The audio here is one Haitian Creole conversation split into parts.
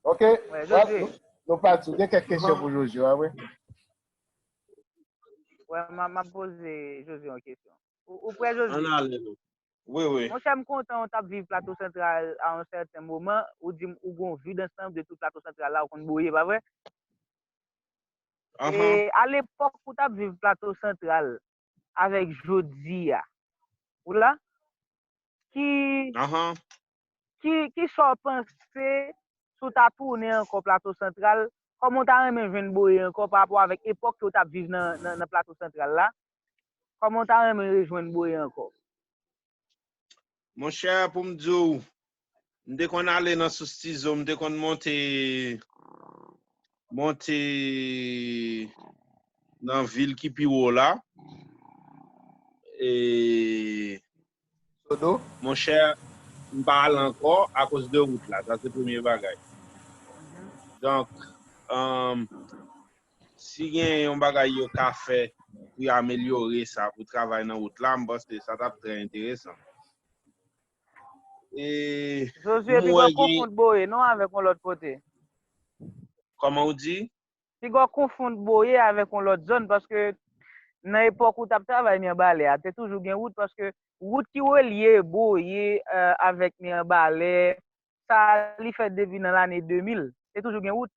Ok, nou pa di, gen kèk kesyon pou Jojo, a wè? Wè, m ap pose Jojo yon kesyon. Ou prè Jojo? An alè nou. Wè, wè. Mwen chèm kontan ou t ap viv Plato Santral a yon sèten moman, ou di m ou gon vi dansanm de tout Plato Santral la ou konn bouye, pa vre? An han. E, a lepòk ou t ap viv Plato Santral, avèk jodiya ou la ki ki sa w panse si w ta tounen ankò plato santral kòman w ta renmen jwenn boye ankò pa rapò avèk epòk ke w tap viv nan plato santral la kòman w ta renmen rejwenn boye ankò. Mon chè pou m di w, m te konn ale nan sous tizo, m te konn monte, monte nan vil ki pi wo la. E, Sodo? mon chè, m pa al ankò akoz de wout la, sa se premye bagay. Donk, Si gen yon bagay yo ka fè pou yo amelyore sa pou travay nan wout la, m panse sa t ap trè enteresan. E Josué, m pi wè gò gen. konfout Boyer non avèk yon lòt kote. Kòman ou di? Pi gò konfout Boyer avèk yon lòt zòn paske nan epòk ou t ap travay Mirebalais a, te toujou gen wout paske wout ki relye Boyer avèk Mirebalais sa li fèt depi nan lane 2000. Te toujou gen wout.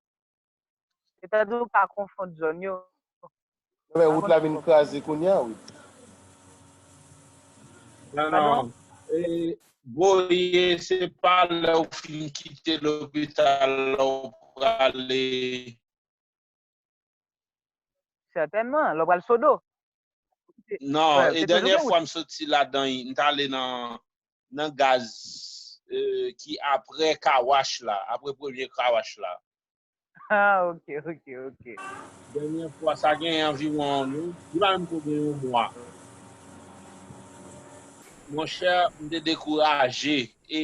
Etandone ou pa konfond zòn yo. Nan men wout la vin kraze kounya wi. Non non Boyer se pa lè ou fin kite lopital la ou prale. Sètènman, lè ou pral Sodo. Non, e dènyè fwa m soti ladan y, m t ale nan nan gaz ki apre car wash la, apre premye car wash la. Ah ok ok ok. Dènyè fwa sa gen anviwon yon, li pa menm ko gen yon mwa. Mon chè m te dekouraje e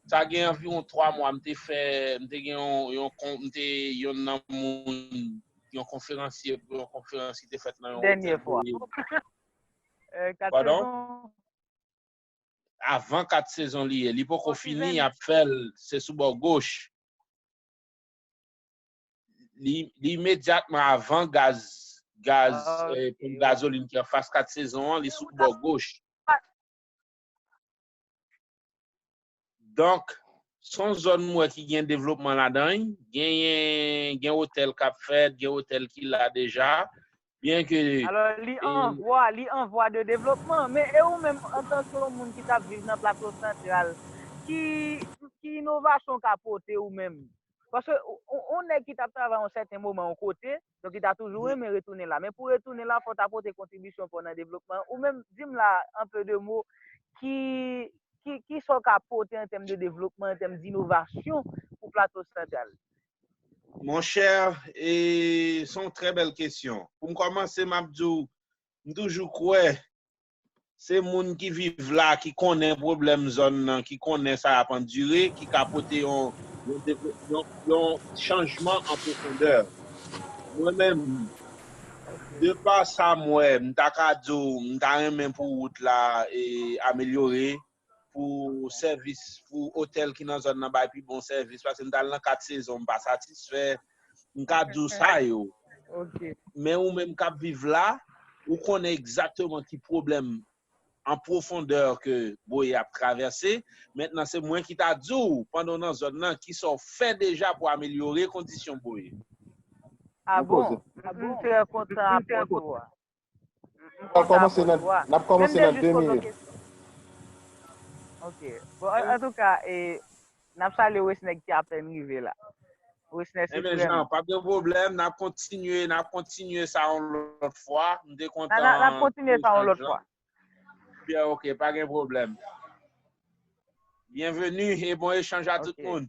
sa gen anviwon 3 mwa m te fè, m te gen yon kon, m te yonn nan moun, yon konferansye pou yon konferans ki te fèt nan yon otèl. Dènyè fwa. Padon? Avan 4 sezon li ye. Li poko fini yap fèl se sou bò goch. Li imedyatman avan gaz gaz poum gazolin ki anfas 4 sezon an li sou bò goch. Donk, s on zòn m wè ki gen devlopman ladan l. Genyen, gen otèl k ap fèt, gen otèl ki la deja. Byenke. Alò, li an vwa, li an vwa de devlopman. Men, e ou menm, antanke yon moun ki t ap viv nan Plato Santral, ki, ki inovasyon w ka pote ou menm? Paske, on nèg ki t ap travay yon sèten moman yon kote, Donk li ta toujou renmen retounen la. Men pou retounen la, fò w ta pote kontribisyon pa w nan devlopman an. Ou menm, di m la, an peu de mo, ki, ki, ki sa w ka pote an tèm de devlopman, an tèm d'innovasyon pou Plato Santral? Mon cher, e, son trè bèl kesyon. Pou m kòmanse, m ap di w, m toujou kwè Se moun ki viv la, ki konnen pwoblèm zòn nan, ki konnen sa y ap andire, ki ka pote yon chanjman an pwofondè. Mwen menm, de pa sa m wè, m ta ka di w m ta renmen pou wout la amelyore, pou sèvis pou otèl ki nan zòn nan bay pi bon sèvis paske m t al nan 4 sezon m pa satisfè m ka di w sa yo men ou menm k ap viv la ou konnen egzakteman ki pwoblèm an pwofondè ke Boye ap travèse mentnan se mwen ki ta di w pandan w nan zòn nan ki sa w fè deja pou amelyore kondisyon Boye. A bon, m trè kontan apòt ou a. M konsa a bon tou a. Men m te jis poze yon kesyon. Ok. Bon antouka e n ap salye Wesner ki apèn rive la. Wesner se frè m. Enben Jean, pa gen pwoblèm. N ap kontinye, n ap kontinye sa yon lòt fwa. M te kontan. N ap kontinye sa yon lòt fwa. Byen ok, pa gen pwoblèm. Byenveni e bon echanj a tout moun.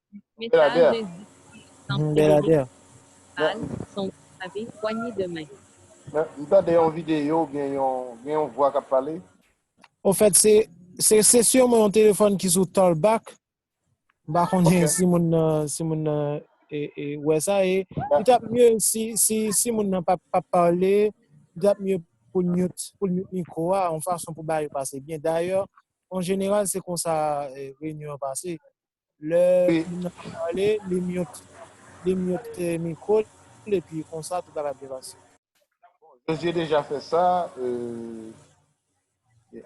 Mesaj de Zi San Bel Ede Ader. Bal San Ou Save Pwanye de Men. M tande yon video oubyen gen yon vwa kap pale. Ofèt se se sûrement yon téléphone ki sou Talkback, m pa konnen si moun nan si moun nan wè sa e li tap mye si si si moun nan pap pap pale li tap mye pou l mute pou l mute mikwo a yon fason pou bagay yo pase byen dayè an jeneral se konsa reyinyon an pase Lè moun nan fin pale, li mute li mute mikwo l epi konsa tout bagay ap byen pase. Josué deja fè sa euh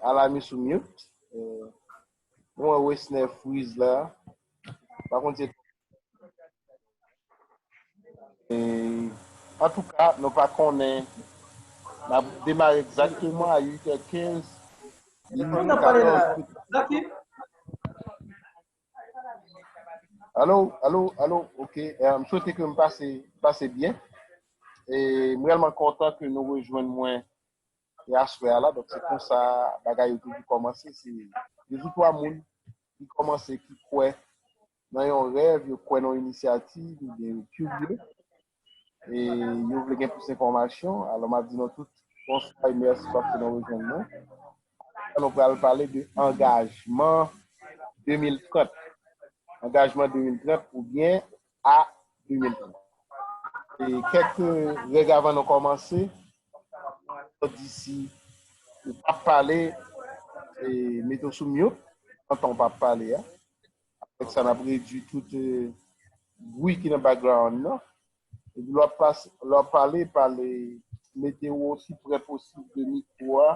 ala mi sou mute euh mwen wè Wesner freeze la pa konn se Antouka nou pa konnen nap demare egzakteman a 8 è 15 min 14 Alo alo alo ok m swete ke m pase pase byen e m rèlman kontan ke nou rejwenn mwen e aswè a la donk se konsa bagay yo toujou kòmanse se 2 ou 3 moun ki kòmanse ki kwè nan yon rèv, yo kwè nan yon inisyativ, oubyen yo kirye, e yo vle gen plis enfòmasyon, alò m ap di nou tout, bonswa e mèsi paske nou rejwenn nou. Kounye a nou pral pale de angajman 2030, angajman 2030 oubyen a 2030. E kèk règ avan nou kòmanse, nou di si ou pa pale, mete w sou myout, antan ou pa pale a. Avèk sa, n ap redui tout bwi ki nan background nan. Epi lè w ap pale, pale, mete w osi prè posib de mikwo a.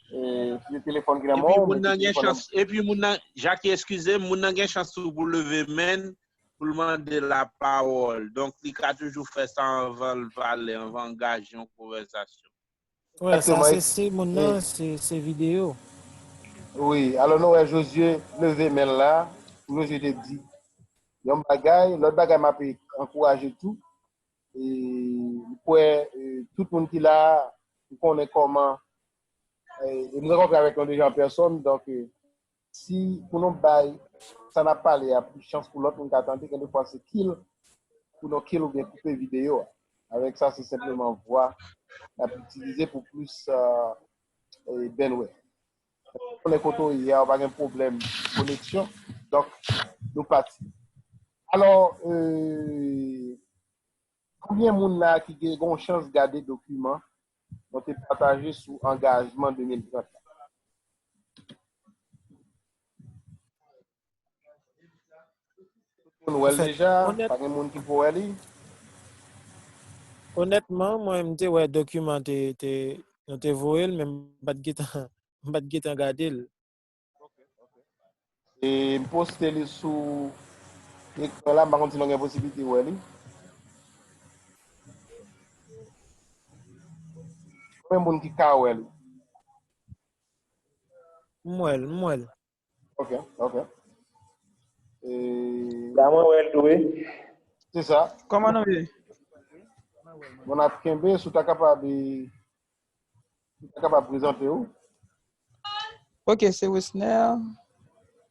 Si se telefòn ki nan men w, mete telefòn nan bouch. Epi moun nan, Jackie, eskize m, moun nan gen chans tou pou l leve men l, pou l mande lapawòl. Donk, li ka toujou fè sa anvan l pale, anvan angaje yon konvèsasyon. Wè Èske sa mwen se siy moun nan se se video. Wi, alò nou wè Jozye leve men l la, Jozye te di yon bagay, lòt bagay m ape ankouraje tou, e m kwè tout moun ki la a ou konnen kòman e m rankontre avèk yon de jan pèsòn donk. Si pou nou bay sa nap pale a plis chans pou lòt moun ka tande gen de fwa se kill pou nou kill oubyen koupe videyo a. Avèk sa se senpleman vwa nap itilize pou plis bandwidth. Mwen pa konnen kote w ye a ou pa gen pwoblèm koneksyon donk nou pati. Alò ee. Konbyen moun la ki gen yon chans gade dokiman mwen te pataje sou angajman 2030 la? Tout moun wè l deja? Pa gen moun ki poko wè li? Onètman, mwen m te wè dokiman nou te voye l men m pa t gen tan gade l. E m poste li sou ekran la, m pa konn si nou gen posibilite wè li. Konbyen moun ki ka wè li? M wè l, m wè l. Ok, ok. E... La mwen wè l tou e. Se sa. Koman nou ye? Bon ap kenbe, sou ta kapab e... Mwen kapab prezante ou? Ok, se Wisner.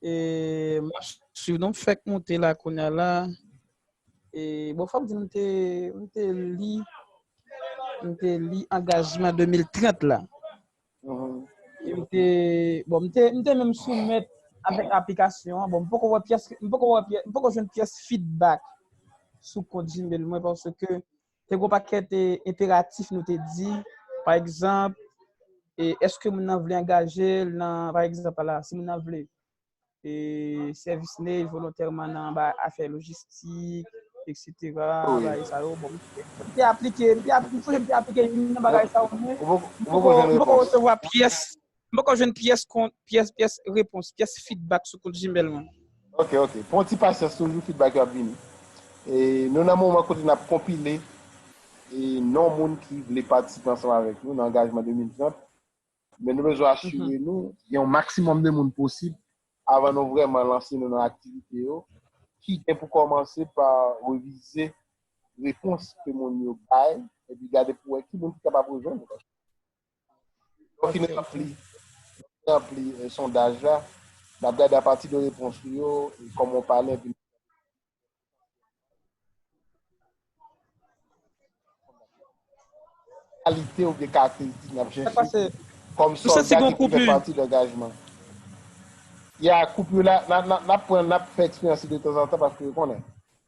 E mwen suiv nou fèk monte la konya la. E bon fòm di mwen te mwen te li mwen te li angajman 2030 la. Mm-hmm. E mwen te bon mwen te mwen te menm soumèt avèk aplikasyon an. Bon mwen poko wè pyès mwen poko wè pyès mwen poko jwenn pyès feedback sou kont Gmail mwen paske Te gwo pakèt enperatif nou te di, pa egzanp, e eske moun nan vle angaje l nan, pa egzanp ala, si moun nan vle e sèvis nej volontèman nan anba afè lojistik, eksetera, bagay sa yo, bon, m te aplike, m te aplike, m te aplike youn nan bagay sa yo, men m poko resevwa pyès M poko jwenn pyès kont pyès pyès repons pyès feedback sou kont Gmail mwen. Ok ok pran ti pasyans toujou feedback yo ap vini e nou nan moman kote nap konpile e non moun ki vle patisipe ansanm avèk nou nan angajman 2030 men nou bezwen asire nou gen yon maksimòm de moun posib avan nou vrèman lanse nou nan aktivite yo ki gen pou kòmanse pa revize repons ke moun yo bay epi gade pou wè ki moun ki kapab rejwenn nou. Lè w fin ranpli, lè w fin ranpli sondaj la, n ap gade apati de repons ou yo, kòman w pale epi. Kalite oubyen karakteristik n ap chèche kòm sòlda ki pou fè pati de angajman. Ya, koup yo la, n ap pran, n ap fè eksperyans yo detanzantan paske yo konnen.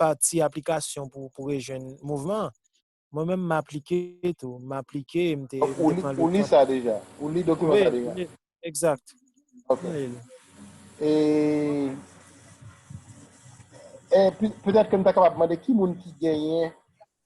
pati aplikasyon pou pou rejwenn mouvman an. Mwen menm m aplike tou, m aplike m te m te pran le tan. Ou li sa deja? Ou li dokiman sa deja? Wi, egzat. Ok. E e petèt ke m ta kapab mande ki moun ki genyen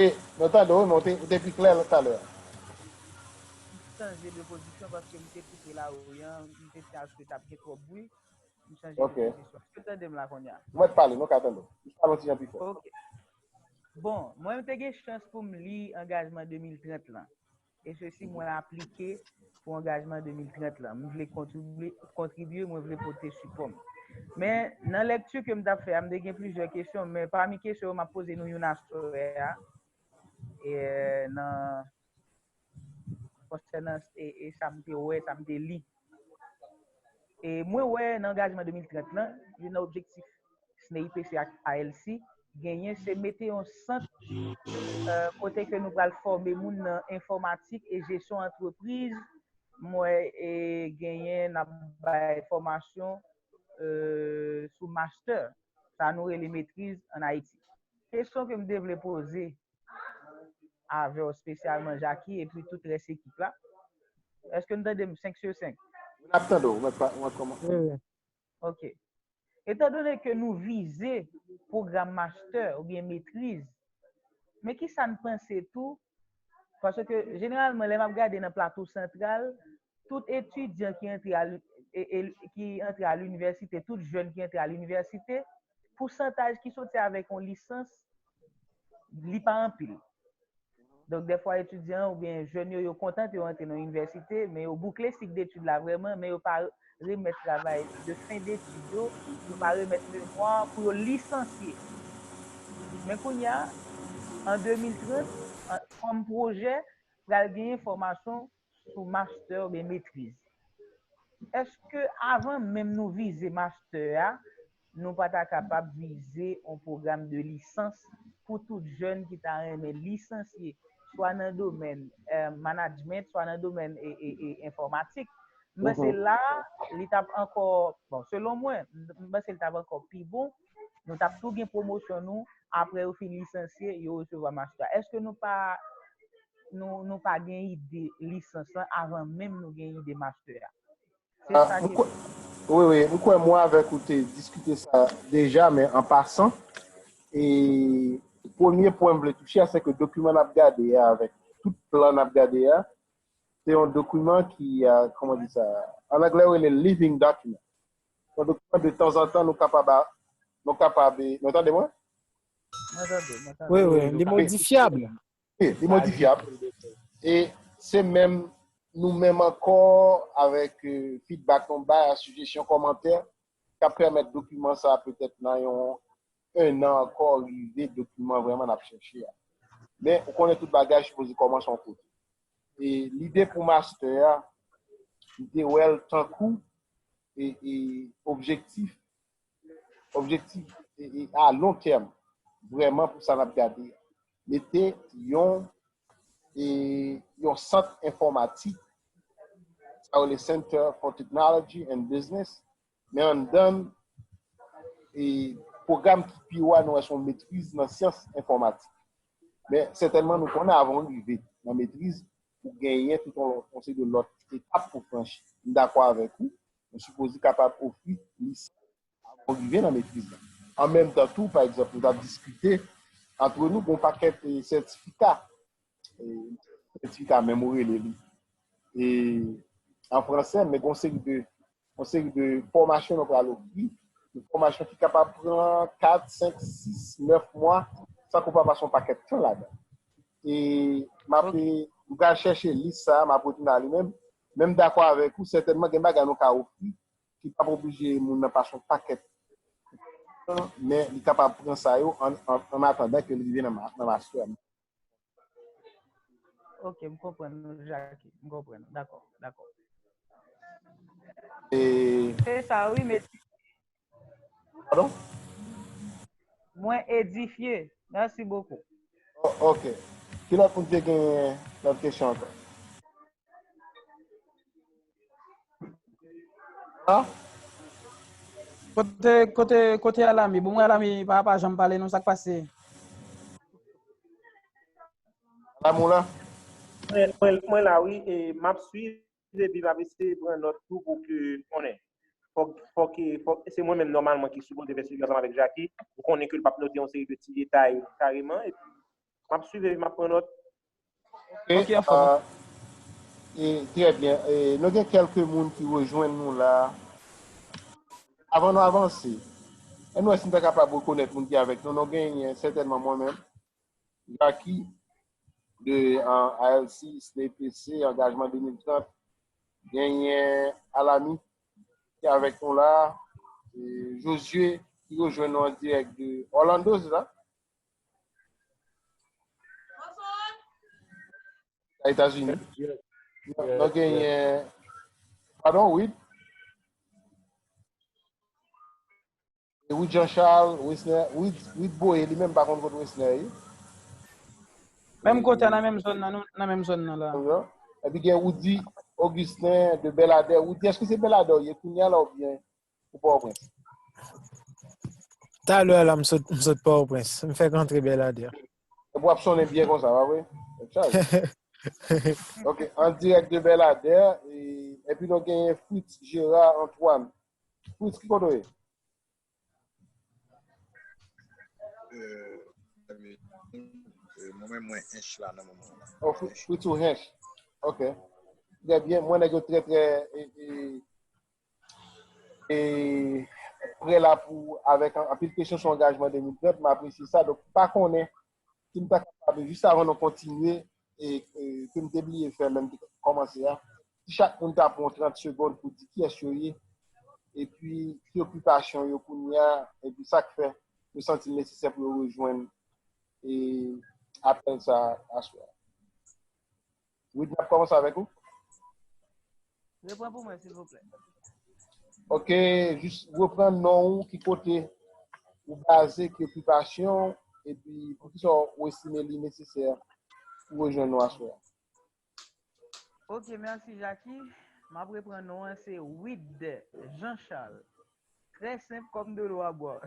Wi, nou tande w wi, men ou te pi klè talè a. M chanje de pozisyon paske m te koute lari an, m te di aske t ap gen twòp bwi, m chanje de pozisyon. Èske w tande m la kounye a? M mèt pale, nou ka tande w. Jis pale yon ti jan pi fò. Ok. Bon, mwen te gen chans pou m li angajman 2030 lan. E se si mwen aplike pou angajman 2030 lan. Mwen vle kontribye, mwen vle pote sipòm. Men, nan lèkti ke mwen tap fè, mwen te gen plizyè kesyon, men pami kesyon yo map poze nou yon aswè a, e nan, konsènan e sa mwen te wè, sa mwen te li, E mwen wè nan angajman 2030 lan, youn nan objektif SNEIPC ak ALC genyen se mete yon sant kote ke nou pral fòme moun nan enfòmatik e jesyon antrepriz. Mwen genyen nan bay fòmasyon sou mastè, sa nou rele metriz an Ayiti. Kesyon ke m te vle poze avèw spesyalman Jacky epi tout rès ekip la Eske nou tandem 5 sur 5? Wi nap tandew mwen pa mwen kòman Ok Etan done ke nou vize pwogram mastè oubyen metriz men kisa n panse tou paske jeneralman lè map gade nan plato santral tout etidyan ki antre a ki antre a linivèsite tout jèn ki antre a linivèsite pousantaj ki soti avèk yon lisans li pa anpil. Donk defwa etidyan ou byen jèn yo yo kontan pou yo antre nan inivèsite, men yo boukle sik detid la vreman, men yo pa remèt travay de fen detid yo, yo pa remèt memwa pou yo lisansye. Men kounye a, an 2030, kòm pwojè, pral genyen fòmasyon sou master oubyen metriz. Eske avan menm nou vize master a, nou pa ta kapab vize yon pwogram de lisans pou tout jèn ki ta renmen lisansye swa nan domèn management, swa nan domèn enfòmatik? M panse la li t ap ankò, bon selon mwen, m panse li t ap ankò pi bon. Nou tap tou gen pwomosyon nou apre yo fin lisansye yo resevwa mastè. Eske nou pa nou pa gen ide lisans lan avan menm nou gen ide mastè a? Se sa ke m. Wi wi, m kwè mwen avèk ou te diskite sa deja men an pasan e premye pwen m vle touche a se ke dokiman n ap gade a avèk tout plan n ap gade a se yon dokiman ki, kòman di sa, an anglè yo rele living document. Mwen vle konnen de tanzantan nou kapab a, nou kapab e, nou tande mwen? Mwen tande, mwen tande. Wi, wi, li modifyab. Wi, li modifyab. E se menm nou menm ankò avèk fidbak nou bay a, sijesyon, kòmantè, k ap pèmèt dokiman sa a petèt nan yon 1 nan ankò rive dokiman vrèman nap chèche a. Men ou konnen tout bagay sipoze kòmanse yon kote. E lide pou mastè a, m te wè l tankou e e objektif, objektif e e a lon tèm vrèman pou sa nap gade a. Mete yon e yon sant enfòmatik, sa yo rele Center for Technology and Business, Men anndan n, e pwogram ki pi wo a nou wè se yon metriz nan syans enfòmatik. Men sètènman nou konnen avan w rive nan metriz, ou genyen tout yon lòt, yon seri de lòt etap pou w franchi. M dakò avèk ou, mwen sipoze kapab ofri lisans avan w rive nan metriz la. An menm tan tou, pa egzanp, nou t ap diskite antre nou, gen yon pakèt sètifika Etika menm ou rele li. E an franse men gon seri de gon seri de fòmasyon nou pral ofri. Yon fòmasyon ki kapab pran 4, 5, 6, 9 mwa san kou pa pase yon pakèt tan ladan. E m ap e m pral chèche lis sa a, m ap retounen a li menm. Men m dakò avèk ou, sètènman gen bagay nou ka ofri ki pa p oblije moun nan pase yon pakèt tan men li kapab pran sa yo an an atandan ke l rive nan mastè. Ok, m konprann nou Jackie, m konprann nou, dakò, dakò. E... Se sa wi mesye. Pardon? Mwen edifye, merci beaucoup. Ok. Ki lòt moun te gen lòt kesyon ankò? Ah. Kote, kote, kote alami. Bon, mwen alami, pa pa janm pale nou sak pase. La mou la. Mwen, mwen, mwen la wi, e map suiv, epi map eseye pran nòt tou pou ke konnen. Fòk, fòk, fòk, se mwen menm nòmalman ki sipoze fè swivi ansanm avèk Jaki, ou konnen ke l pap note yon seri de ti detay kareman, epi Map swiv epi map pran nòt. Ok, an fòm. Trè byen. Nou gen kèlke moun ki rejwenn nou la. Avan nou avanse, èn nou wè si nou ta kapab rekonèt moun ki avèk nou. Nou genyen sètènman mwen menm, Jacky de ALC, SNEPC, Angajman 2030. Genyen Alamy ki avèk nou la. Josué ki rejwenn nou an dirèk de Orlando, se sa? A Etazini. Nou genyen... Pardon, Wid? Wid Jean Charles, Wisner, Wid Boye, li menm pa konn kote Wisner yi. Menm kote nan menm zon nan, nan menm zon nan la. Epi gen Widi, Augustin, de Beladè. Widi, eske se Beladè yi? Kounye la ou byen? pou pa ou prens. Talè ala m sot pa ou prens, m fèk antre belader. Epi wap sonnen byen konsa, pa vre? Ok, an direk de belader, epi nou genyen Fritz Gerard Antoine. Fritz, ki kote ou ye? Mwen mwen ench la nan mouman la. Oh, Fritz ou ench. Ok. Trè byen, mwen nèk yo trè trè... E prè la pou avèk anpil kesyon sou angajman 2030, m apresye sa. Donk m pa konnen si m ta kapab jis avan nou kontinye e ke m te bliye fè lè m te kòmanse a, si chak moun ta pran 30 segond pou di kiyès yo ye, epi ki okipasyon yo kounye a, epi sa k fè yo santi l nesesè pou yo rejwenn e apèl sa a aswè a. Wid nap komanse avèk ou. Repran pou mwen silvouplè. Ok, jis repran non ou ki kote ou baze ki okipasyon epi pou ki sa ou estime li nesesè pou rejwenn nou aswè. Ok, merci Jacky. Map repran non an se Wid Jean Charles. Très senp kòm de lwa bwa.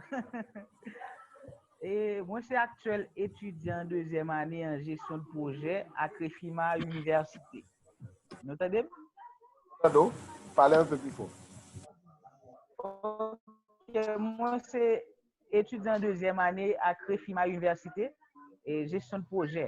E, mwen se aktyèl etidyan dezyèm ane an jesyon de pwojè ak refima inivèsite. Nou tande m? Mwen tande w. Pale anpe pi fò. Ok, mwen se etidyan dezyèm ane ak refima inivèsite, jesyon de pwojè.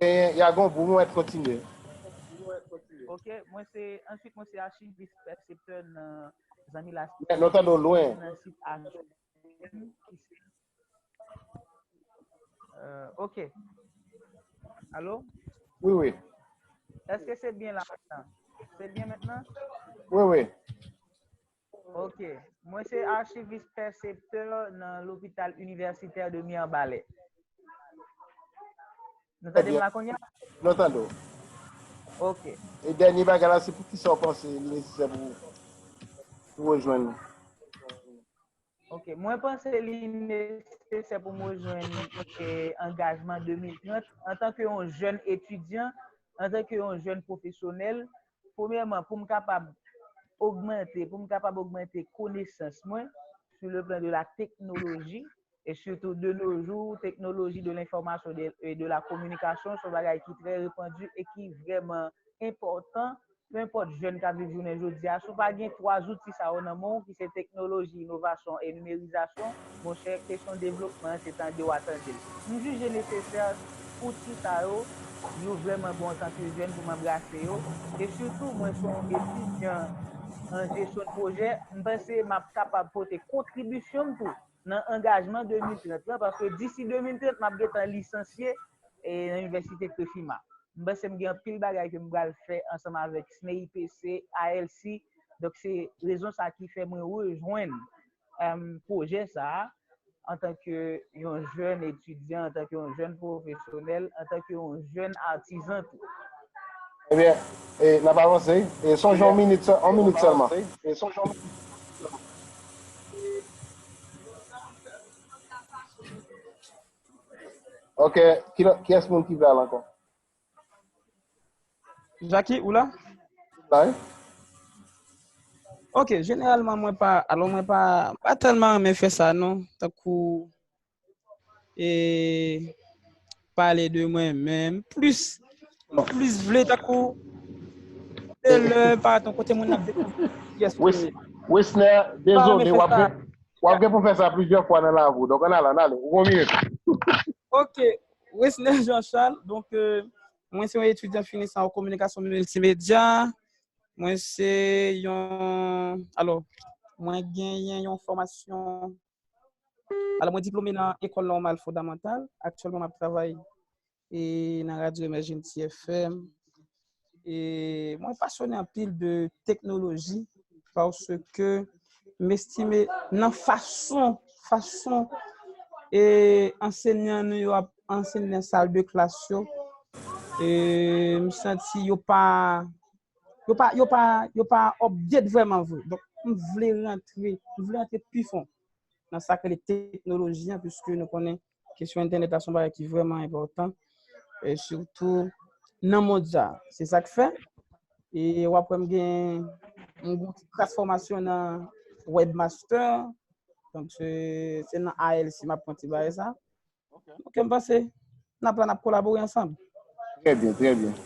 Genyen ya gon bou mwen kontinye. Ok mwen se answit mwen se achivis pèseptè nan zanmi laspi Nou tande w lwen. nan sit achiv ki se euh ok alo Wi wi. eske se byen la se byen mentnan? Wi wi. Ok, mwen se archiviste percepteur nan l'hôpital universitaire de Mirbalais. Nou tande m la konya? Nou tande w. Ok. E dènye bagay la se pou ki sa w panse li nesesè pou pou rejwenn nou? Ok, mwen panse li nesesè pou m rejwenn angajman 2030 antanke yon jèn etidyan, antanke yon jèn pwofesyonèl, Premyèman, pou m kapab ogmante, pou m kapab ogmante konesans mwen sou le plan de la teknoloji, e sitou de no jou, teknoloji de lenfòmasyon e de la kominikasyon son bagay ki trè repandu e ki vrèman enpòtan, pe enpòt jèn k ap viv jounen jodi a, si w pa gen 3 zouti sa yo nan men w ki se teknoloji, inovasyon e nimerizasyon, Monchè, kesyon devlopman an se tande w a tande l. M jije nesesè outi sa yo, yo vrèman bon antan ke jèn pou m anbrase yo, e sitou mwen se yon etidyan an jesyon dpwojè, m panse m ap kapab pote kontribisyon m tou nan angajman 2030 lan, paske disi 2030 m ap gen tan lisansye nan inivèsite Trefima. M panse m gen anpil bagay ke m pral fè ansanm avèk SNEIPC, ALC, donk se rezon sa ki fè mwen rejwenn pwojè sa a antanke yon jèn etidyan, antanke yon jèn pwofesyonèl, antanke yon jèn atizan tou. Ebyen, n ap avanse. E sonje yon minit sèlman. Ok, kilòt, kiyès moun ki vle al ankò? Jackie, ou la? La wi. Ok, jeneralman mwen pa, alon mwen pa, pa tèlman renmen fè sa non, tankou, e, pale de mwen menm, plis, mwen plis vle tankou, e lè, pa ton kote moun ap dekouvri, yes ou ye. Wesner, dezole, wap gen pou fè sa plizyè fwa nan lavi ou, donk an ale, an ale, ou gon minit. Ok. Wesner Jean Charles, donk mwen se yon etidyan fini sa an kominikasyon miltimedya, mwen se yon, alò, mwen genyen yon fòmasyon, alò mwen diplome nan Ecole Normale Fondamentale, aktyèlman m ap travay nan Radyo Emèjenti FM, E mwen pasyone anpil de teknoloji paske m estime nan fason fason e ansenyan nou yo ap ansenye nan sal de klas yo e m santi yo pa yo pa yo pa yo pa update vreman vre. Donk m vle rantre m vle rantre pi fon nan sa k rele teknoloji an paske nou konnen Kesyon entènèt la son bagay ki vrèman enpòtan. E sitou nan mond sa. Se sa k fè. E wap wèm gen yon gwo ti kras fòmasyon nan webmaster. Donk se nan ALC map pran ti bagay sa. Ok m panse nap la nap kolabore ansanm. Trè byen, trè byen.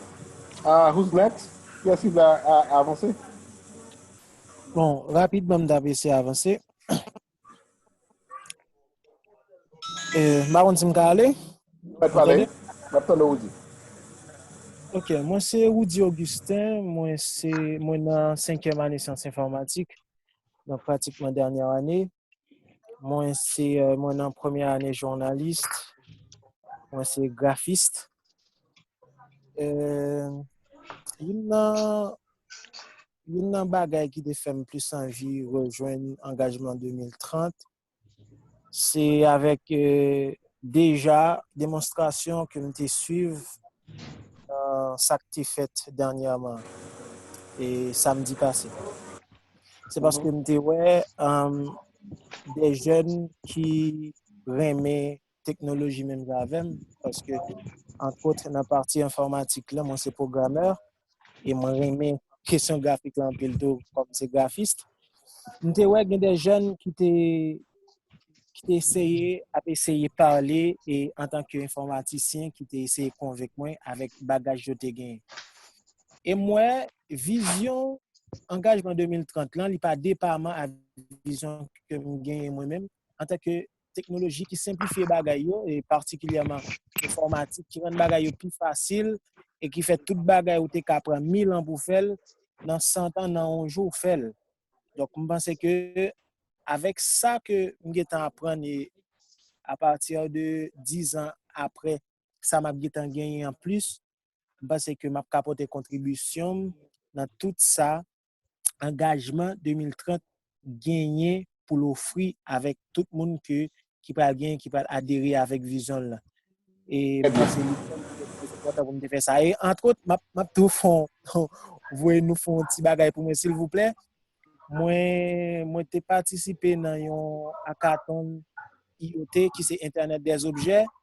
Ah who's next? Ki yès ki vle avanse? Bon, rapidman m ta prese avanse. M pa konn si m ka ale? Ou mèt pale, n ap tande w Roudy. Ok, mwen se Roudy Augustin, mwen se, mwen nan senkyèm ane syans enfòmatik, nan pratikman dènyè ane. Mwen se, mwen nan premyè ane jounalis, mwen se grafis. Youn nan, Youn nan bagay ki te fèm plis anvi rejwenn angajman 2030 se avèk deja demonstrasyon ke m te swiv nan sa k te fèt dènyèman e samdi pase. Se paske m te wè de jèn ki renmen teknoloji menm jan avèm paske antwot nan pati enfòmatik la mwen se pwogrammè e mwen renmen kesyon grafik la anpil tou kòm se grafist. M te wè gen de jèn ki te ki te eseye ap eseye pale e an tan ke enfòmatisyen ki te eseye konvenk mwen avèk bagaj yo te genyen. E m wè vizyon angajman 2030 lan li pa depaman ak vizyon ke m genyen mwen menm an tan ke teknoloji ki senplifye bagay yo, e patikilyèman enfòmatik ki rann bagay yo pi fasil, e ki fè tout bagay ou te ka pran mil an pou fè l, nan santan, nan yon jou ou fè l. Donk m panse ke avèk sa ke m gen tan aprann e apati de dizan aprè sa m ap gen tan genyen an plis, m panse ke m ap ka pote kontribisyon m nan tout sa angajman 2030 genyen pou l ofri avèk tout moun ke ki pral genyen, ki pral adere avèk vizyon l lan. E m panse li fèm kontan pou m te fè sa. E antwot, m ap tou fon, voye nou fon ti bagay pou mwen silvouplè. Mwen te patisipe nan yon akaton IOT ki se Entènèt dèzobjè.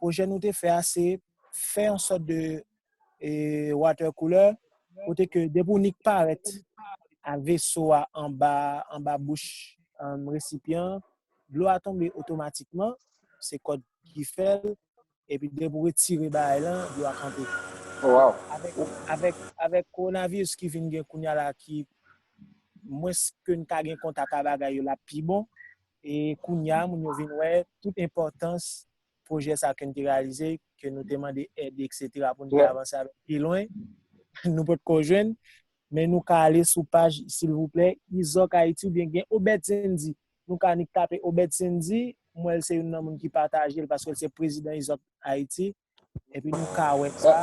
pwojè nou te fè a se fè yon sòt de water cooler kote ke depi w nik parèt a veso a anba bouch resipyan an, dlo a tonbe otomatikman, se kòd ki fè l, epi depi w retire bagay lan, dlo a kanpe. Avèk kowonaviris ki vin gen kounya la ki mwens ke n ka gen kontak a bagay yo l ap pi bon. E kounya moun yo vin wè tout enpòtans pwojè sa ke n te reyalize, ke nou te mande èd etc pou n te avanse avèk pi lwen, nou pot ko jwenn, men nou ka ale sou paj silvouplè Izok Ayiti oubyen gen Obed Sendy, nou ka nik tape Obed Sendy, m wè l se youn nan moun ki pataje l paske l se prezidan Izok Ayiti. Epi nou ka wè sa.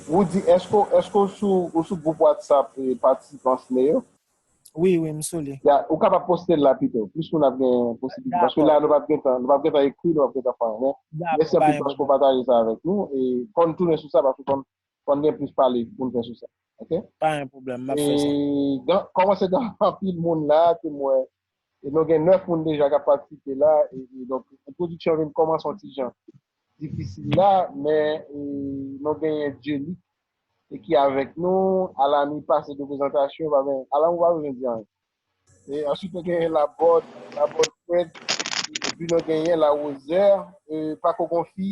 Roody, èske èske ou sou ou sou gwoup WhatsApp patisipan SNE yo? Wi, wi, m sou li. Ya, ou kapab poste l la pito. Plis moun ap gen posiblite. Paske la nou pap gen tan. Nou pap gen tan ekri, nou pap gen tan fè anyen. Mèsi anpil paske ou pataje sa avèk nou. E konn tounen sou sa paske konn konn gen plis pale pou nou fè sou sa. Ok? Pa gen pwoblèm, m ap fè sa. E gen kòmanse gen anpil moun la ke m wè e nou gen 9 moun deja k ap patisipe la e donk entwodiksyon vin kòmanse yon ti jan difisil la men nou genyen Dyelic ki avèk nou Alamy pase de prezantasyon pa gen Alamy ou pa bezwen di anyen e answit nou genyen Labòd Labòd Fred epi nou genyen Larose pako gon fi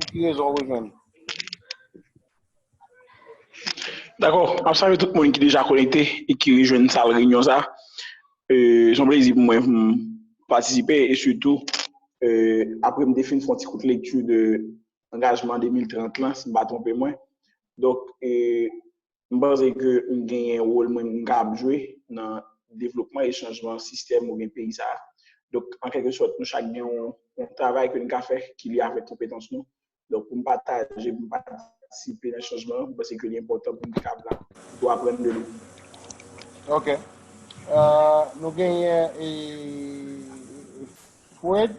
Pou ki rezon w rejwenn? Dakò, m ap salye tout moun ki deja konekte e ki rejwenn sal reyinyon sa. Se yon plezi pou mwen pou m patisipe e sitou apre m te fin fè yon ti kout lekti de angajman 2030 lan, si m pa twonpe mwen. Donk, M panse ke m genyen wol mwen m kab jwe nan devlopman e chanjman sistèm oubyen peyi sa a. Donk, an kèlke sòt, nou chak gen yon travay ke n ka fè ki lye avèk konpetans nou. Donk, pou m pataje, pou m patisipe nan chanjman, m panse ke li enpòtan pou m kab la, pou aprann de nou. Ok. Nou genyen Fred.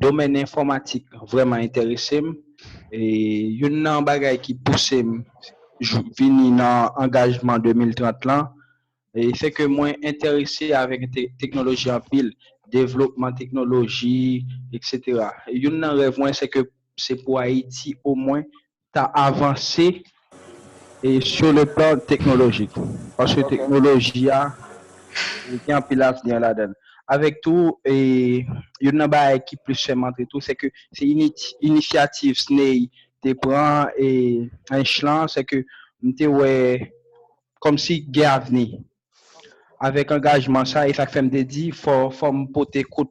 Domèn enfòmatik vrèman enterese m. Youn nan bagay ki pouse m vini nan angajman 2030 lan, se ke mwen enterese avèk teknoloji anpil, devlopman teknoloji, eksetera. Youn nan rèv mwen se ke se pou Ayiti omwen ta avanse sou le plan teknolojik paske teknoloji a gen anpil avni ladan l avèk tou youn nan bagay ki plis fè m antre tou se ke se inisyativ SNEI te pran Ench lan se ke m te wè kòmsi gen avni avèk angajman sa e sa k fè m te di fò m pote kout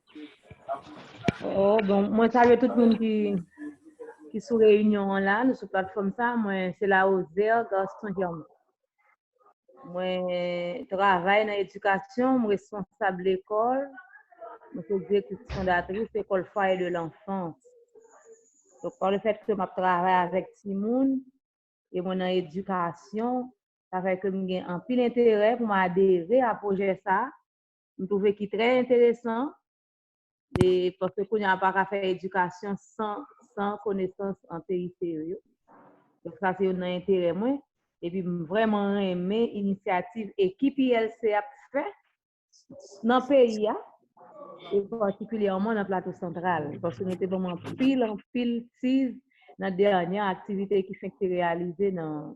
Oh, bon, mwen salye tout moun ki ki sou reyinyon an la, nou sou platfòm sa, mwen se la Ozer Gaston Germain. Mwen travay nan edikasyon, mwen responsab lekòl, mwen se direktris fondatris ekòl Foyer de l'Enfance. Donk, pa le fèt ke m ap travay avèk timoun, e mwen nan edikasyon, sa fè ke m gen anpil enterè pou m adere a pwojè sa, m twouve ki trè enteresan, e paske kounye a pa ka fè edikasyon san san konesans an TIC yo yo. Donk sa se youn nan enterè mwen. Epi m vrèman renmen inisyativ ekip ILC a ap fè nan peyi a, e patikilyèman nan Plato Santral. Paske nou te ban m anpil anpil tiz nan dènyè aktivite ki fenk te reyalize nan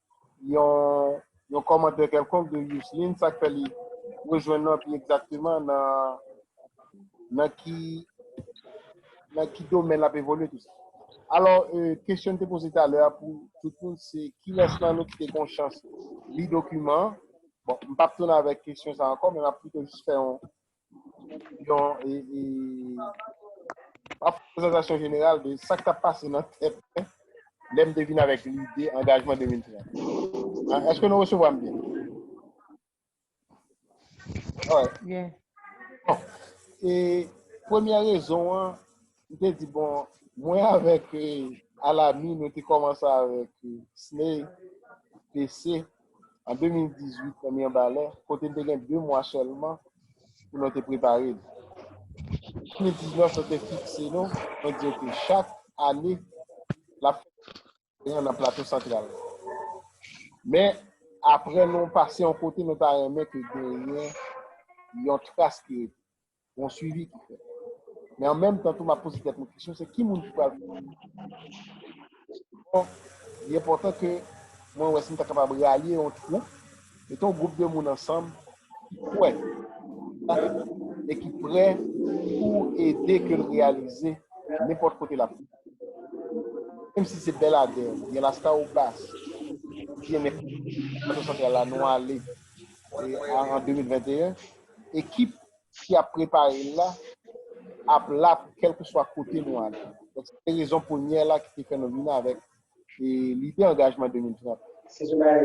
yon kòmantè kèlkonk de Youseline, sa k fè li rejwenn nou anpi egzakteman nan ki nan ki domèn l ap evolye tout sa. Alò, kesyon n te poze talè a pou tout moun se kilès nan nou ki te gen yon chans li dokiman an? Bon, m p ap tounen avèk kesyon sa ankò men m ap pito jis fè yon yon e, e, pa fè prezantasyon jeneral de sa k tap pase nan tèt mwen lè m te vin avèk lide angajman 2030. Ah, Èske nou resevwa m byen? Alright. Bien. Bon, e premyè rezon an, Li te di, bon, mwen avèk Alami nou te kòmanse avèk Sney PC an 2018 nan Mirbalè, kote n te gen 2 mwa sèlman pou nou te prepare li. 2019 nou te fikse nou, nou di ok chak ane l ap fè genyen nan Plato Santral. Men, apre nou pase yon kote, nou ta renmen ke genyen yon tras ki rete, yon swivi ki fèt. Men an menm tan tou, m ap poze tèt mwen kesyon, se ki moun ki pral fè swivi sa? Li enpòtan ke mwen wè si m ta kapab ralye yon twoup, mete yon gwoup de moun ansanm ki kwè e ki pre pou ede ke l reyalize nenpòt kote l ap ye. Menm si se Bèladè, gen Laskawobas, gen men Plato Santral la nou ale an 2021, ekip ki ap prepare l la ap la pou kèlkeswa kote nou ale. Donk se te rezon premyè la ki te fè nou vin avèk lide angajman 2030.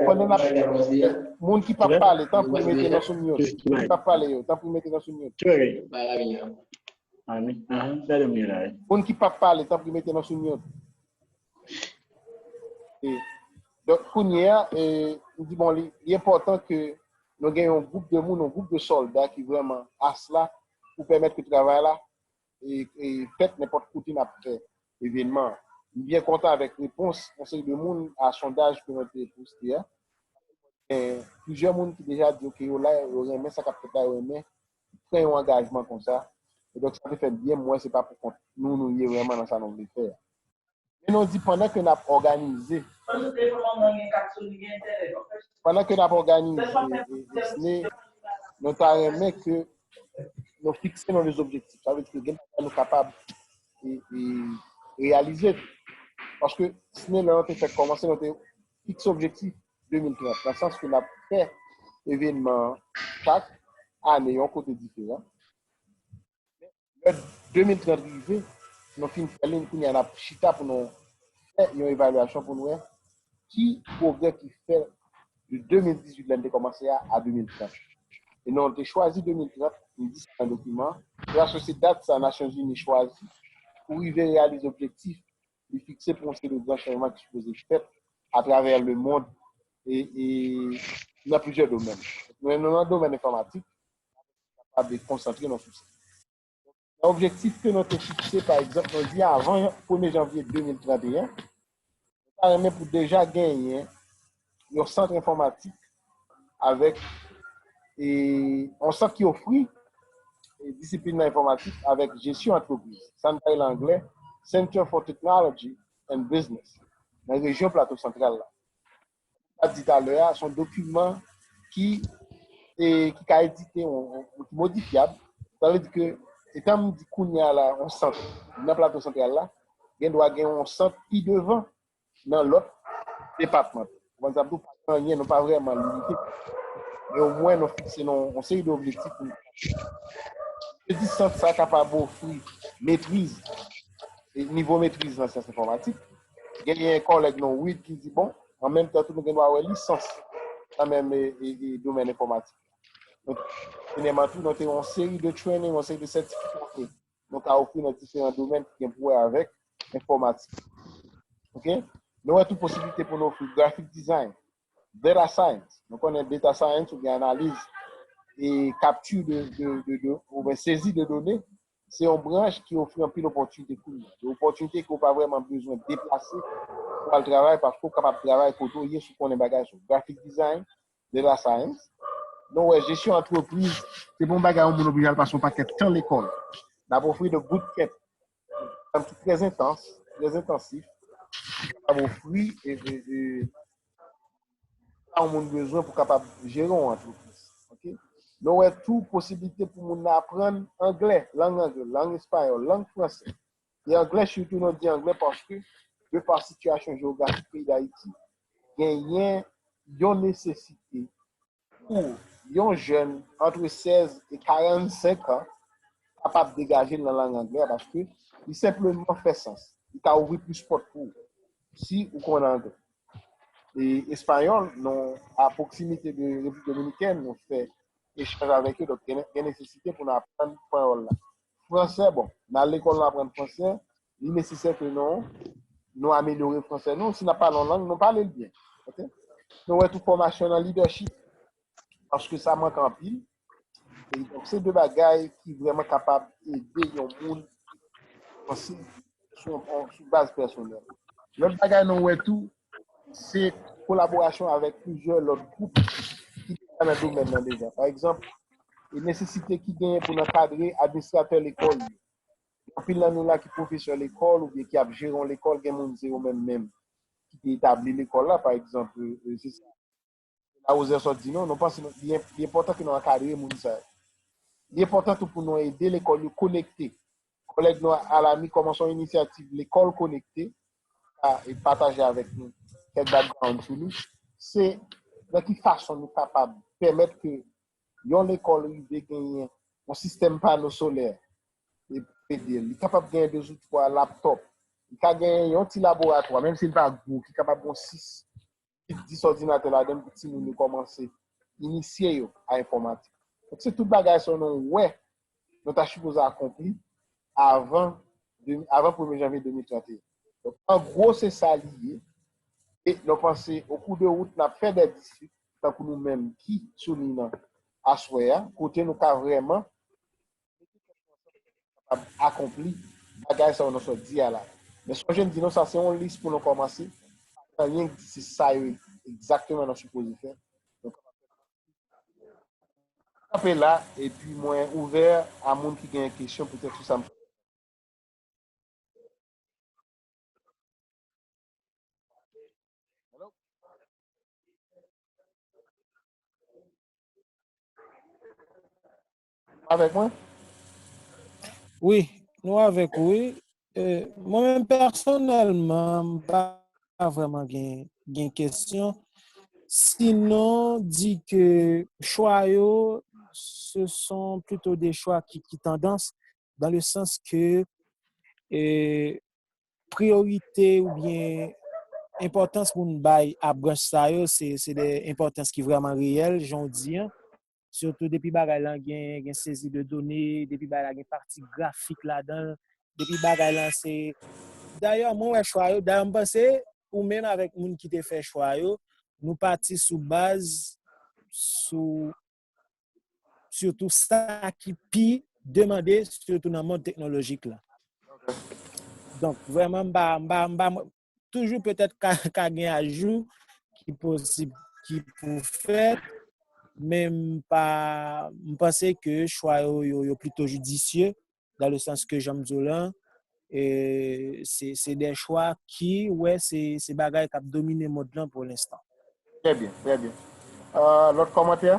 Pandan n ap pale, moun ki p ap pale tanpri mete nou sou myout. Moun ki p ap pale yo, tanpri mete nou sou myout. Moun ki pap pale tanpri mete nou sou mute. Donk kounye a, m di bon li enpòtan ke nou gen yon gwoup de moun, yon gwoup de sòlda ki vrèman as la pou pèmèt ke travay la fèt nenpòt kote n ap fè evènman an. M byen kontan avèk repons yon seri de moun a sondaj ke mwen te poste a. Gen plizyè moun ki deja di yo ke yo la, yo renmen sa k ap fèt la, yo renmen ki pran yon angajman konsa, e donk sa te fè byen m wè se pa pou kont nou nou ye vrèman nan sa nou vle fè a. Men nou di pandan ke n ap òganize, pandan ke n ap òganize SNE, nou ta renmen ke nou fikse nou de objektif. Sa vle di ke gen bagay nou kapab reyalize tou. Paske SNE lè nou te fèk kòmanse nou te fikse objektif. 2030, nan sans ke n ap fè evenman chak ane yon kote diferan. Lè 2030 rive, nou fin fè li, kounye a n ap chita pou nou fè yon evalyasyon pou nou wè ki pwogrè ki fè de 2018 lè n te kòmanse a, a 2030. E nou te chwazi 2030, nou di sa nan dokiman an, paske se dat sa Nasyonzini chwazi pou rive reyalize objektif li fikse pou yon seri de gran chanjman ki sipoze fèt atravè lemond e nan plizyè domèn. Men nan domèn enfòmatik, nou kapab konsantre nou sou sa. Nan objektif ke nou te fikse, pa egzanp, nou di avan premye janvye 2031, nou ta renmen pou deja genyen yon sant enfòmatik avèk e yon sant ki ofri disiplin nan enfòmatik avèk jesyon antrepriz. Sa nou bay lan anglè, Center for Technology and Business nan rejyon Plato Santral la. Sa di talè a, son dokiman ki e ki ka edite yon modifyab. Sa vle di ke etan m di kounya la yon sant nan Plato Santral la, gen dwa gen yon sant pi devan nan lòt depatman. Ou konprann sa m di w? Pa gen anyen, nou pa vrèman limite. Men omwen nou fikse nou yon seri de objektif pou nou atenn. Se di sant sa kapab ofri metriz, nivo metriz nan syans enfòmatik. Genyen kòlèg nou, Wid, ki di bon, an menm tan tou nou gen dwa wè lisans nan menm domèn enfòmatik la. Premyèman tou, nou te yon seri de training, yon seri de sètifikasyon. nou ka ofri nan diferan domèn ki gen pou wè avèk enfòmatik. Ok. Nou wè tou posiblite pou nou ofri graphic design, data science, nou konnen data science ou gen analiz e kapti de, ou ben sezi de done, se yon branch ki ofri anpil opòtinite kou li. Yon opòtinite ke ou pa vreman bezwen deplase pou al travay paske ou kapab travay kote ou ye si w konnen bagay sou graphic design, De la Saens, nou wè jesyon antrepriz se pa yon bagay yon moun oblije al pase yon pakèt tan lekòl. N ap ofri 2 bootcamp ki trè entans, trè entansif, ki kapab ofri sa yon moun bezwen pou kapab jere yon antrepriz. Nou wè tou posiblite pou moun nan aprann anglè, lang anglè, lang espayòl, lang fransè. E anglè sitou non di anglè paske de pa sitiyasyon jewografik peyi Dayiti genyen yon nesesite pou yon jèn antre 16 e 45 an kapab degaje l nan lang anglè a paske li senpleman fè sans, li ka ouvri plis pòt pou ou si ou konn anglè. E espayòl nou a pwoksimite de Repiblik Dominikèn nou fè echanj avèk yo donk gen nesesite pou nou aprann panyòl la. Fransè, bon, n al lekòl nou aprann fransè, li nesesè ke nou, nou amelyore fransè nou, si n ap pale yon lang, nou pale l byen, ok? Nou wè tou fòmasyon nan lidèchip, paske sa mank anpil, e donk se de bagay ki vrèman kapab ede yon moun avanse sou baz pèsonèl. Lòt bagay nou wè tou, se kolaborasyon avèk plizyè lòt gwoup ki deja nan domèn nan deja. Pa egzanp, nesesite ki genyen pou n ankadre administratè lekòl yo. Gen anpil nan nou la ki pwofesè lekòl oubyen ki ap jere yon lekòl, gen moun se yo menm menm ki te etabli lekòl la pa egzanp. Se la Roser sot di non, nou panse nou, li en, li enpòtan ke nou ankadre moun sa yo. Li enpòtan tou pou nou ede lekòl yo konekte. Kòlèg nou Alamy kòmanse yon inisyativ Lekòl Konekte, ka e pataje avèk nou kèk background sou li. Se nan ki fason nou kapab pèmèt ke yon lekòl rive genyen yon sistèm pano solè e pou ede l. Li kapab genyen 2 ou 3 laptop, li ka genyen yon ti laboratwa, menm si li pa gwo, ki kapab gon 6 kit 10 òdinatè ladan pou ti moun yo kòmanse inisye yo a enfòmatik. Donk se tout bagay sa yo nou wè nou ta sipoze akonpli avan premye janvye 2031. Donk an gwo se sa li ye e nou panse o kou de wout nap fè dè distri tankou nou menm ki sou liy nan aswè a kote nou ka vrèman Mete tèt nou ansanm pou nou kapab akonpli bagay sa yo nou sot di a la. Men sonje m di nou sa se yon lis pou nou kòmanse, pa gen anyen ki di se sa yo egzakteman nou sipoze fè. Nou kapab fè plis ke sa. Mwen kanpe la epi mwen ouvè a moun ki genyen kesyon poutèt sou sa m sot di. Avèk mwen? Wi, nou avèk ou wi. Mwen menm pèsonèlman m pa vrèman gen kesyon sinon di ke chwa yo se son plito de chwa ki tandans dan le sans ke priyorite oubyen enpòtans moun bay a branch sa yo se de enpòtans ki vrèman reyèl jan ou di an. Sitou depi bagay lan gen sezi de done, depi bagay la gen pati grafik ladan, depi bagay lan se... Dayè, mwen wè chwa yo, dayè m panse, ou menm avèk moun ki te fè chwa yo, nou pati sou baz, sou, sitou sa ki pi demande, sitou nan mond teknolojik lan. Donk, vrèman, m pa, m pa, m pa, m pa. toujou petèt ka gen ajou ki posib ki pou fèt, men m pa, m panse ke chwa yo yo plito judisye, dan le sans ke jan m di w lan, se de chwa ki wè se bagay k ap domine mond lan pou lenstan. Trè byen, trè byen. Lòt kòmantè?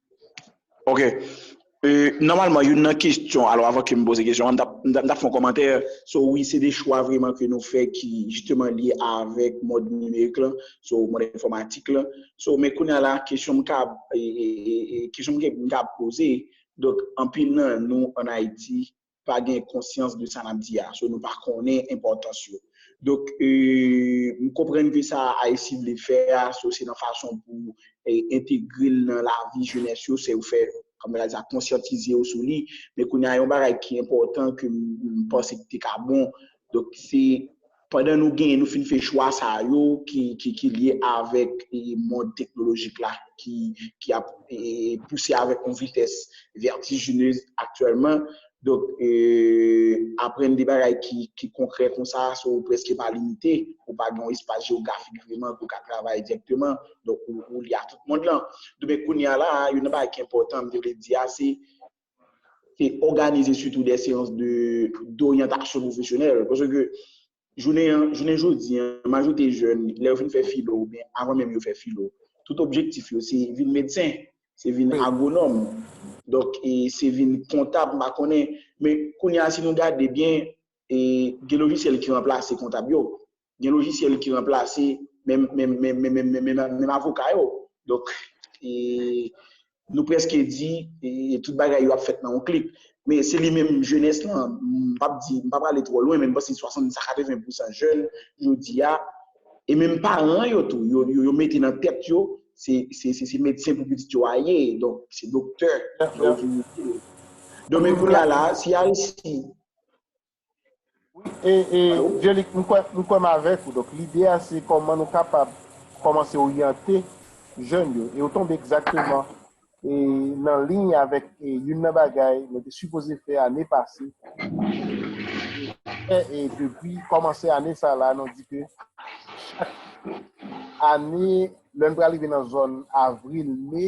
Ok, nòmalman youn nan kestyon, alò avan ke m poze kestyon an, m ta fon kòmantè sou wi se de chwa vreman ke nou fè ki jisteman lye avèk mòd nimerik lan, sou mòd enfòmatik lan, sou men kounye a la kestyon m kab e kestyon m kab poze, donk anpil nan nou an Ayiti pa gen konsyans de sa n ap di a, so nou pa konnen enpòtans yo. Donk, m konprann ke sa Ayiti vle fè a, so se nan fason pou entegre l nan lavi jenès yo, se yo fè, kòm yo ta di sa, konsyantize yo sou li. Men kounye a, yon bagay ki enpòtan ke m panse ki te ka bon, donk se Pandan nou gen, nou fin fè chwa sa yo ki lye avèk mond teknolojik la ki ap pouse avèk yon vitès vètijinez aktyèlman. Donk, aprann de bagay ki konkrè konsa sa ou prèske pa limite. Ou pa gen yon espas jewografik vreman ke ou ka travay dirèkteman. Donk, ou lye a tout mond lan. Donk, kounye a la a, youn nan bagay ki enpòtan m te vle di a se te òganize sitou de seyans de doryantasyon pwofesyonèl. Pase ke jounen an, jounen jodi an, majorite jèn, lè yo fin fè filo, ou byen avan menm yo fè filo, tout objektif yo se vin medsen, se vin agwonòm, donk e se vin kontab, m pa konnen. Men kounye a si nou gade byen, gen lojisyèl ki ranplase kontab yo. gen lojisyèl ki ranplase menm avoka yo. Donk, nou prèske di tout bagay yo ap fèt nan yon klik. Men se li menm jenès lan, m pap di, m pap ale twò lwen, men m panse 60 a 80 pousan jèn jodi a, e menm paran yo tou, yo mete nan tèt yo, se medsen pou pitit yo a ye, donk se doktè. Donk men kounya la, si Aristide E Jelic, m kwè m kwè m avèk ou. Donk lide a se kòman nou kapab kòmanse oryante jèn yo. E ou tonbe egzakteman e nan liy avèk youn nan bagay mwen te sipoze fè ane pase e e depi kòmanse ane sa la nou di ke chak ane lè n pral rive nan zòn avril, me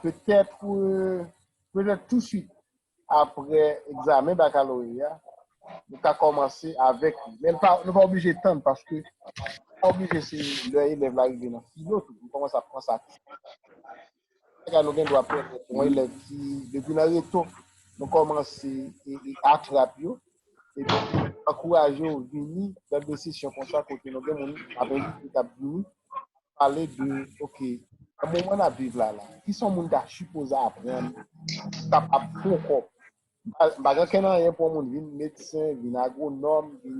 petèt petèt tousuit apre egzamen bakaloreya, nou ka kòmanse avèk li. Men nou pa oblije tann, paske pa oblije se lè elèv la rive nan filo tou, nou kòmanse ap pran sa tou. Sa nou gen dwa pèmèt yon elèv ki depi nan reto, nou kòmanse atrap yo, epi ankouraje yo vini nan de sesyon konsa kote nou gen moun ap envite yo tap vini, pale de ok nan moman nap viv la la kisa yon moun ta sipoze aprann pou l kapab fè yon kòb m pa gen kè nan anyen pou yon moun vin medsen vin agwonòm vin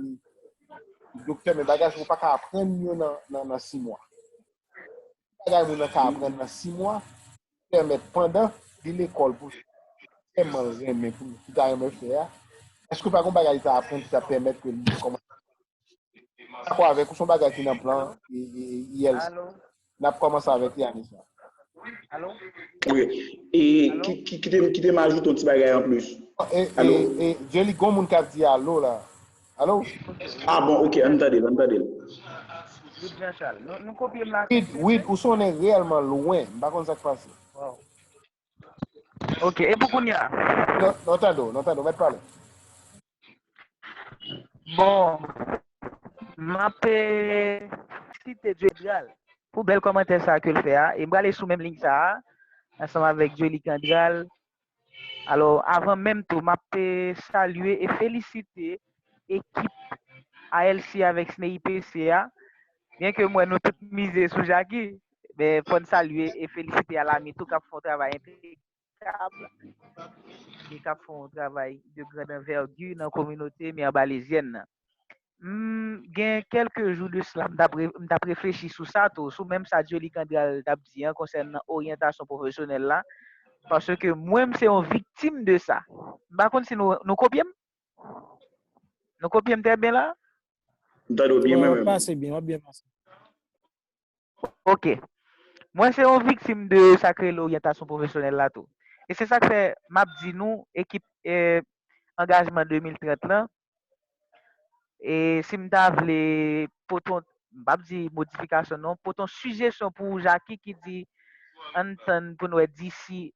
doktè men bagay sa ou pa ka aprann yo nan nan nan 6 mwa ki bagay moun nan ka aprann nan 6 mwa pèmèt pandan li lekòl pou fè tèlman l renmen pou li ta renmen fè a èske pa gon bagay li ta aprann ki ta pèmèt ke li kòmanse dakò avèk ou son bagay ki nan plan ILC n ap kòmanse avèk li ane sa wi e kite m ajoute yon ti bagay anplis e e e Djeli gon moun k ap di alo la. Alo? Ah bon ok ann tande l ann tande l. Wid Jean Charles. Nou kopye m la Wid, senplis Wid ou sonnen reyèlman lwen, m pa konn sa k pase. Waw. Ok, e pou kounya? Nou nou tande w, nou tande w, mèt pale. Bon, m ap site Djodral pou bèl kòmantè sa ke l fè a e m prale sou menm liy sa a ansanm avèk Joly Candral Alò avan menm tou map salye e felisite ekip ALC avèk SNEIPC a, byen ke m wè nou tout mize sou Jaki, men fò n salye e felisite Alamy tou kap fè yon travay enpekab e kap fè yon travay de grande envergure nan kominote Mirbalaisyèn nan. M gen kèlke jou de sla m t ap reflechi sou sa tou, sou menm sa Dioly Kandral t ap di an konsènan oryantasyon pwofesyonèl la, paske mwen m se yon viktim de sa. M pa konn si nou kopye m? Nou kopye m trè byen la? M tande w byen mwen menm. W ap byen pase. Ok. Mwen se yon viktim de sa k rele oryantasyon pwofesyonèl la tou. E se sa k fè m ap di nou ekip angajman 2030 lan, e si m ta vle pote yon, m pap di modifikasyon non, pote yon sijesyon pou ou Jaki ki di an n tann pou n wè disi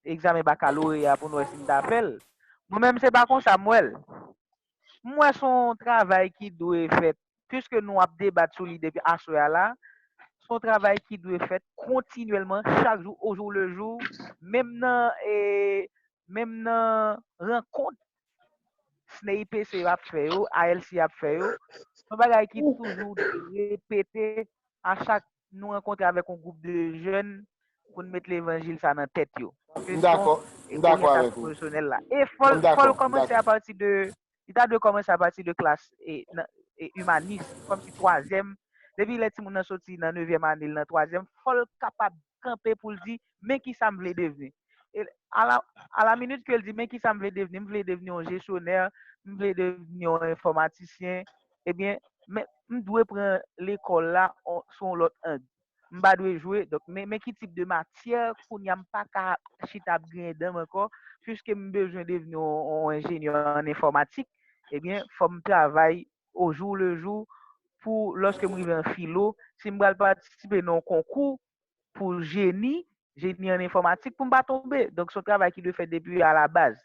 egzamen bakaloreya pou n wè si n ta fè l. Mwen menm se pa konsa m wè l. M wè s on travay ki dwe fèt, piske nou ap debat sou li depi aswè a la, s on travay ki dwe fèt kontinyèlman chak jou ojou lejou menm nan menm nan rankont CNEIPC yo ap fè yo, ALC ap fè yo, son bagay ki toujou repete a chak nou rankontre avèk yon gwoup de jèn pou n met levanjil sa nan tèt yo. M dakò, m dakò avèk ou. E fò l kòmanse apati de, li ta dwe kòmanse apati de klas imanis, kòm si twazyèm, depi lè timoun nan soti nan nevyèm ane l nan twazyèm, fò l kapab kanpe pou l di, Men ki sa m vle devni. E a la, a la minit ke l di, men ki sa m vle devni, m vle devni yon jesyonè, m vle devni yon enfòmatisyen, ebyen, men, m dwe pran lekòl la on, sou yon lòt ang. M pa dwe jwe, donk, men, men ki tip de matyè, kounye a m pa ka chita ap griyen dan m ankò, piske m bezwen devni yon, yon enjenyè an enfòmatik, ebyen, fò m travay o jou le jou pou lòske m rive an filo, si m pral patisipe nan yon konkou, pou jeni, jeni an enfòmatik pou m pa tonbe. Donk son travay ki dwe fèt depi a la baz.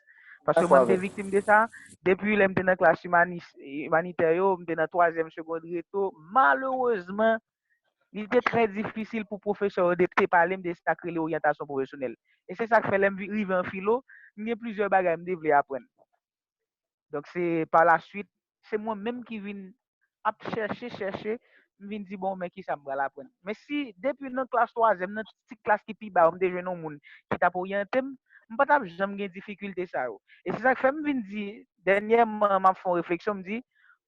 Paske mwen te viktim de sa, depi lè m te nan klas imanis, imanitè yo, m te nan twazyèm segond reto, malerezman, li te trè difisil pou pwofesè yo de te pale m de sa k rele oryantasyon pwofesyonèl. E se sa k fè lè m rive an filo, m gen plizyè bagay m te vle aprann. Donk se pa la swit, se mwen menm ki vin ap chèche, chèche, m vin di bon men kisa m pral aprann. Men si depi nan klas twazyèm, nan ti klas ki pi ba yo m te jwenn yon moun ki t ap oryante m, m pa t ap janm gen difikilte sa yo. E se sa k fè m vin di, dènyèman m ap fè yon refleksyon, m di,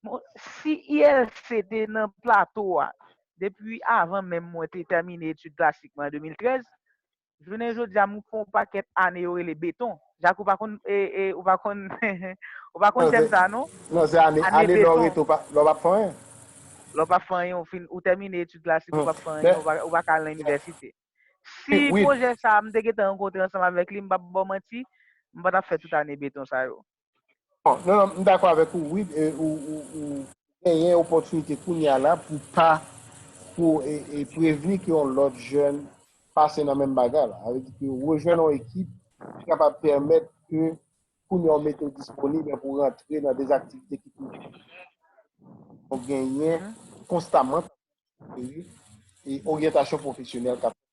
bon, si ILC te nan plato a depi avan menm mwen te tèmine etid klasik mwen an 2013, Jounen jodi a m fè yon pakèt ane yo rele beton. Jacques ou pa konn ou pa konn ou pa konn tèm sa non. Non se ane ane lè w rete lè w pap fè anyen. Lè w pap fè anyen ou fin ou tèmine etid klasik ou pap fè anyen ou pa ka al nan inivèsite. Si pwojè sa m te gentan rankontre ansanm avèk li m pap ba w manti m pa tap fè tout ane beton sa yo. Bon, non, m dakò avèk ou Wid, ou genyen opòtinite kounya la pou pa, pou e prevni ke yon lòt jèn pase nan menm bagay la. Sa vle di ke rejwenn yon ekip ki kapab pèmèt ke kounya ou mete ou disponib e pou rantre nan de aktivite ki pi enpòtan. Genyen konstaman e oryantasyon pwofesyonèl kap fèt.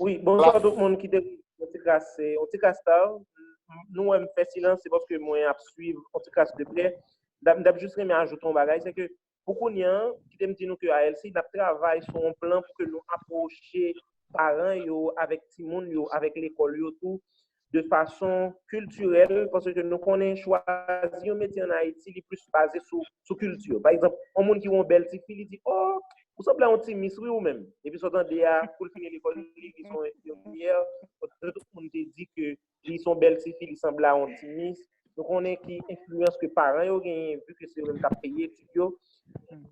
Wi, bonswa tout moun ki te yon ti kras, yon ti kras ta. Nou wè m fè silans se paske mwen ap swiv yon ti kras de prè. M ta jis renmen ajoute yon bagay, se ke pou kounye an, kite m di nou ke ALC n ap travay sou yon plan pou ke nou apwoche paran yo avèk timoun yo, avèk lekòl yo tou. de fason kiltirèl, paske nou konnen chwazi yon metye an Ayiti li plis baze sou kilti. Pa egzanp, yon moun ki wè yon bèl ti fi, li di, o, ou sanble a yon ti mis wi ou menm. Epi sa w tande a, kou l fini lekòl, li vin yon enfimyè, paske tout moun te di ke li son bèl ti fi, li sanble a yon ti mis. Nou konnen ki enfliyans ke paran yo genyen, vu ke se yo menm kap peye etid yo.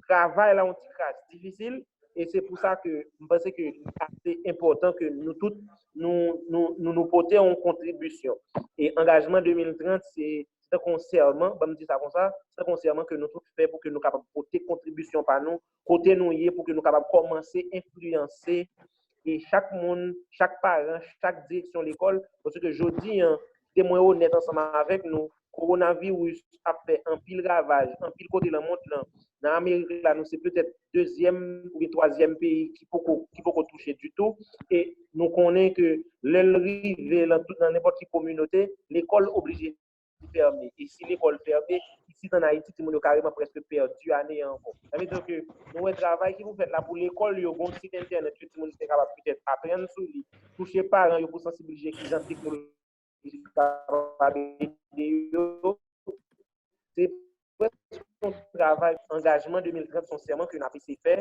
Travay la yon ti kras difisil, e se pou sa ke m panse ke li ase enpòtan ke nou tout nou nou pote yon kontribisyon. E angajman 2030 se tankou yon sèman, banm di sa konsa, se tankou yon sèman ke nou tout fè pou ke nou kapab pote kontribisyon pa nou kote nou ye pou ke nou kapab kòmanse enfliyanse e chak moun, chak paran, chak direksyon lekòl, pase ke jodi an, kite mwen onèt ansanm avèk nou, kowonaviris ap fè anpil ravaj, anpil kote lan mond lan, nan Amerik la nou se petèt dezyèm oubyen twazyèm peyi ki poko ki poko touche ditou e nou konnen ke lè l rive lan tout nan nenpòt ki kominote, lekòl oblije. li fèmen. E si lekòl fèmen, isit an Ayiti, timoun yo kareman prèske pèdi ane an ankò. Sa vle di ke nou wè travay ki pou fèt la pou lekòl yo gon sit entènèt ke timoun yo te kapab petèt aprann sou li, touche paran yo pou sansibilize ki jan teknoloji kapab ede yo. Se prèske yon travay angajman 2030, son sèman ke n ap eseye fè.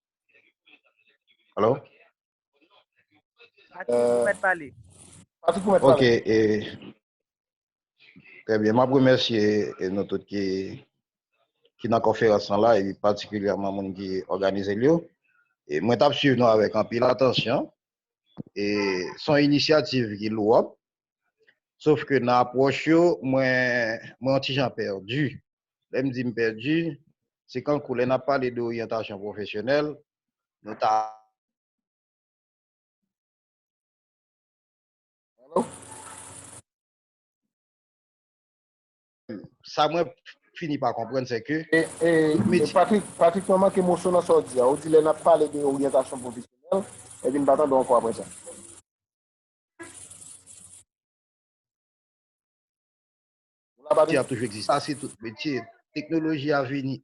Alo? Patrick, ou mèt pale. Patrick, ou mèt pale. Ok, e... Trè byen, map remèsye nou tout ki ki nan konferans lan la, e patikilyèman moun ki òganize l yo. E mwen tap swiv nou avèk anpil atansyon. E son inisyativ ki lwòp, Sof ke nan apwòch yo, mwen yon ti jan pèdi. Lè m di m pèdi, se kankou lè n ap pale de oryantasyon pwofesyonèl, nou ta. Sa mwen fini pa konprann se ke. Patrik, Patrik mwen manke moso nan sa w di a. Ou di lè n ap pale de oryantasyon pwofesyonèl, epi m pa tande w ankò aprè sa. Sa se tout metye. Teknoloji a vini.